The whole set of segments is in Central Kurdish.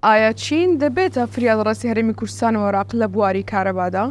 ئایا چین دەبێتە فریادڕەسی هەرێمی کوردستان و عێراق لە بواری کارەبادا؟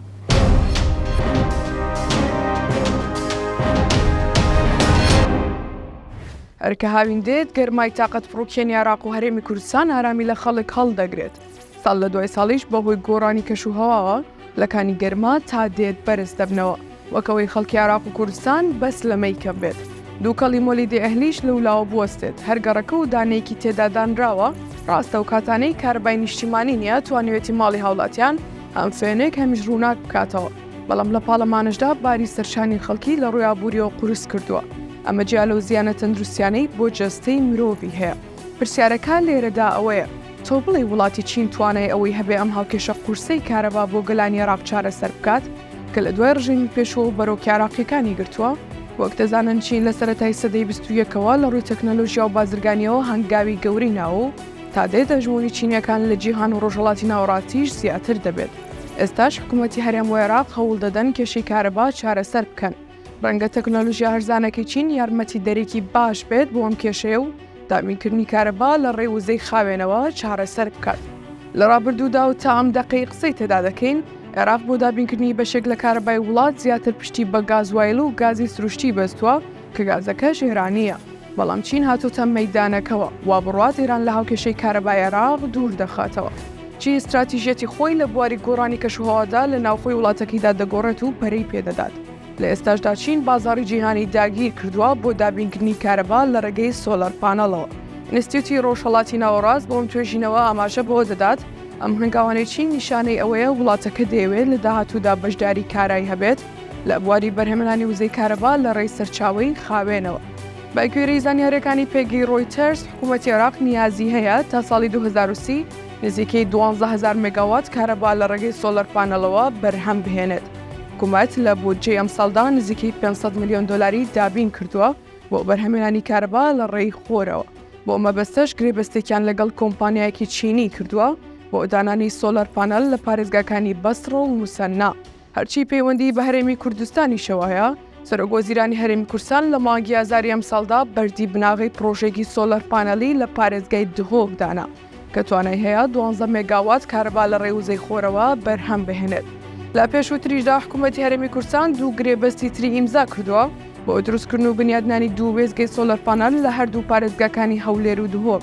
ئەرکە هاوین دێت گەرمای تااقەت پڕوکێنی عراق و هەرێمی کوردستان ئارامی لە خەڵک هەڵدەگرێت ساڵ لە دوای ساڵیش بەهۆی گۆڕانی کەش و هەواوە لەکانی گەرما تا دێت بەرز دەبنەوە وەک ئەوەی خەڵکی عێراق و کوردستان بەس لە مەی کەم بێت دووکەڵی مۆلیدی ئەهلیش لولاوە بوەستێت هەر گەڕەکە و دانەیەکی تێدا دانراوە ڕاستە ئەو کاتانەی کارەبای نیشتیمانی نیە توانیوێتی ماڵی هاوڵاتیان هەم فێنێک هەمیش ڕووناک بکاتەوە بەڵام لە پاڵەمانشدا باری سەرشانی خەڵکی لە ڕووی ئابووریەوە قورس کردووە ئەمە جیا لەو زیانە تەندروستیانەی بۆ جەستەی مرۆڤی هەیە پرسیارەکە لێرەدا ئەوەیە تۆ بڵێی وڵاتی چین توانای ئەوەی هەبێ ئەم هاوکێشە قورسەی کارەبا بۆ گەلانی عێراق چارەسەر بکات کە لە دوای ڕژێمی پێشوو و بەرۆکی عێراقییەکانی گرتووە؟ وەک دەزانن چین لە سەرەتای سەدەی بیست و یەکەوە لە ڕووی تەکنەلۆژیا و بازرگانییەوە هەنگاوی گەورەی ناوە و تا دێت هەژموونی چینییەکان لە جیهان و ڕۆژهەڵاتی ناوەڕاستیش زیاتر دەبێت. ئێستاش حکوومەتی هەرێم و عێراق هەوڵ دەدەن کێشەی کارەبا چارەسەر بکەن. ڕەنگە تەکنۆلۆژیا هەرزانەکەی چین یارمەتیدەرێکی باش بێت بۆ ئەم کێشەیە و دابینکردنی کارەبا لە ڕێ وزەی خاوێنەوە چارەسەر بکات. لە ڕابردوودا و تا ئەم دەقەی قسەی تێدا دەکەین، عێراق بۆ دابینکردنی بەشێک لە کارەبای وڵات زیاتر پشتی بە گازوایل و گازی سروشتی بەستووە کە گازەکەش ئێرانییە. بەڵام چین هاتۆتە مەیدانەکەوە، وا بڕوات ئێران لە هاوکێشەی کارەبای عێراق دوور دەخاتەوە. چین ستراتیژیەتی خۆی لە بواری گۆڕانی کەشوهەوادا لە ناوخۆی وڵاتەکەیدا دەگۆڕێت و پەرەی پێ دەدات. لە ئێستاشدا چین بازاڕی جیهانی داگیر کردووە بۆ دابینکردنی کارەبا لە ڕێگەی سۆلەر پانەڵەوە. ئینستیتیوتی ڕۆژهەڵاتی ناوەڕاست بۆ ئەم توێژینەوە ئاماژە بەوە دەدات، ئەم هەنگاوانەی چین نیشانەی ئەوەیە وڵاتەکە دەیەوێت لە داهاتوودا بەشداری کارای هەبێت لە بواری بەرهەمێنانی وزەی کارەبا لە ڕێی سەرچاوەی خاوێنەوە. بەگوێرەی زانیارییەکانی پێگەی ڕۆیتەرز، حکوومەتی عێراق نیازی هەیە تا ساڵی دوو هەزار و سی نزیکەی دوازدە هەزار مێگاوات کارەبا لە ڕێگەی سۆلەر پانێڵەوە بەرهەم بهێنێت. حکوومەت لە بودجەی ئەمساڵدا نزیکەی پێنج سەد ملیۆن دۆلاری دابین کردووە بۆ بەرهەمهێنانی کارەبا لە ڕێی خۆرەوە، بۆ ئەو مەبەستەش گرێبەستێکیان لەگەڵ کۆمپانیایەکی چینی کردووە بۆ دانانی سۆلەر پانێڵ لە پارێزگاکانی بەسڕە و موسەننا. هەرچی پەیوەندیی بە هەرێمی کوردستانیشەوە هەیە، سەرۆکوەزیرانی هەرێمی کورسان لە مانگی ئازاری ئەمساڵدا بەردی بناغەی پڕۆژەیەکی سۆلەر پانێڵی لە پارێزگای دهۆک دانا کە توانای هەیە دوانزە مێگاوات کارەبا لە ڕێی وزەی خۆرەوە بەرهەم بهێنێت. لە پێشووتریشدا حکوومەتی هەرێمی کورسان دوو گرێبەستی تری ئیمزا کردووە بۆ دروستکردن و بنیادنانی دوو وێستگەی سۆلەر پانێل لە هەردوو پارێزگاکانی هەولێر و دهۆک.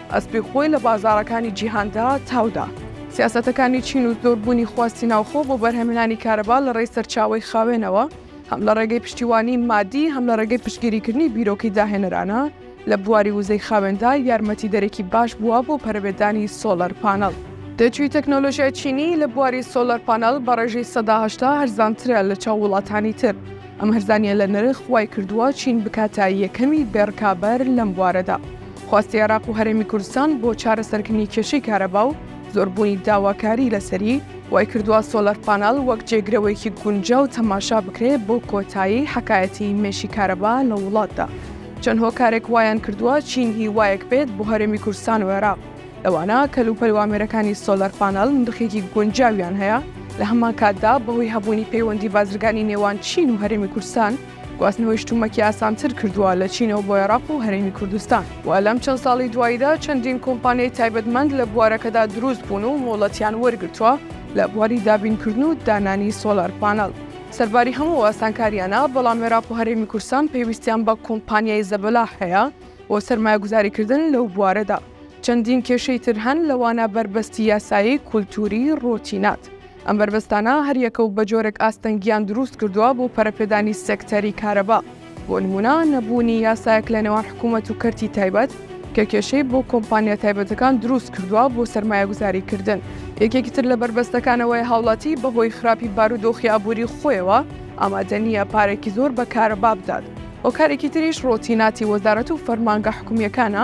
ئەسپی خۆی لە بازاڕەکانی جیهاندا تاو دا. سیاسەتەکانی چین و زۆربوونی خواستی ناوخۆ بۆ بەرهەمهێنانی کارەبا لە ڕێی سەرچاوەی خاوێنەوە، هەم لە ڕێگەی پشتیوانیی مادی، هەم لە ڕێگەی پشتگیریکردنی بیرۆکەی داهێنەرانە لە بواری وزەی خاوێندا، یارمەتیدەرێکی باش بووە بۆ پەرەپێدانی سۆلەر پانەڵ. دەرچووی تەکنۆلۆژیای چینی لە بواری سۆلەر پانەڵ بە ڕێژەی سەدا هەشتا هەرزانترە لە چاو وڵاتانی تر. ئەم هەرزانییە لە نرخ وای کردووە چین بکاتە یەکەمی بێڕکابەر لەم بوارەدا. خواستی عێراق و هەرێمی کوردستان بۆ چارەسەرکردنی کێشەی کارەبا و زۆربوونی داواکاری لەسەری، وایکردووە سۆلەر پانەڵ وەک جێگرەوەیەکی گونجاو تەماشا بکرێت بۆ کۆتایی حەکایەتی مێشی کارەبا لە وڵاتدا. چەند هۆکارێک وایان کردووە چین هیوایەک بێت بۆ هەرێمی کوردستان و عێراق، لەوانە کەلوپەل و ئامێرەکانی سۆلەر پانەڵ نرخێکی گونجاویان هەیە، لە هەمانکاتدا بەهۆی هەبوونی پەیوەندی بازرگانی نێوان چین و هەرێمی کوردستان، گواستنەوەی شتومەکی ئاسانتر کردووە لە چینەوە بۆ عێراق و هەرێمی کوردستان و لەم چەند ساڵی دواییدا چەندین کۆمپانیای تایبەتمەند لە بوارەکەدا دروست بوون و مۆڵەتیان وەرگرتووە لە بواری دابینکردن و دانانی سۆلار پانەڵ. سەرباری هەموو ئەو ئاسانکارییانە، بەڵام عێراق و هەرێمی کوردستان پێویستیان بە کۆمپانیای زەبەلاح هەیە بۆ سەرمایەگوزاریکردن لەو بوارەدا. چەندین کێشەی تر هەن، لەوانە بەربەستی یاسایی، کولتووری، ڕۆتینات. ئەم بەربەستانە هەریەکە و بە جۆرێک ئاستەنگیان دروست کردووە بۆ پەرەپێدانی سێکتەری کارەبا، بۆ نموونە نەبوونی یاسایەک لە نێوان حکوومەت و کەرتی تایبەت کە کێشەی بۆ کۆمپانیا تایبەتەکان دروست کردووە بۆ سەرمایەگوزاریکردن، یەکێکی تر لە بەربەستەکان ئەوەیە هاوڵاتی بەهۆی خراپی بارودۆخی ئابووری خۆیەوە ئامادە نییە پارەێکی زۆر بە کارەبا بدات، هۆکارێکی تریش ڕۆتیناتی وەزارەت و فەرمانگە حکوومییەکانە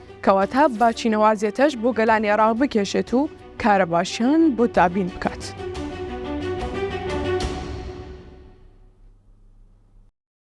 کەواتە با چینەوازێتەش بۆ گەلانی عێراق بکێشێت و کارەباشیان بۆ دابین بکات.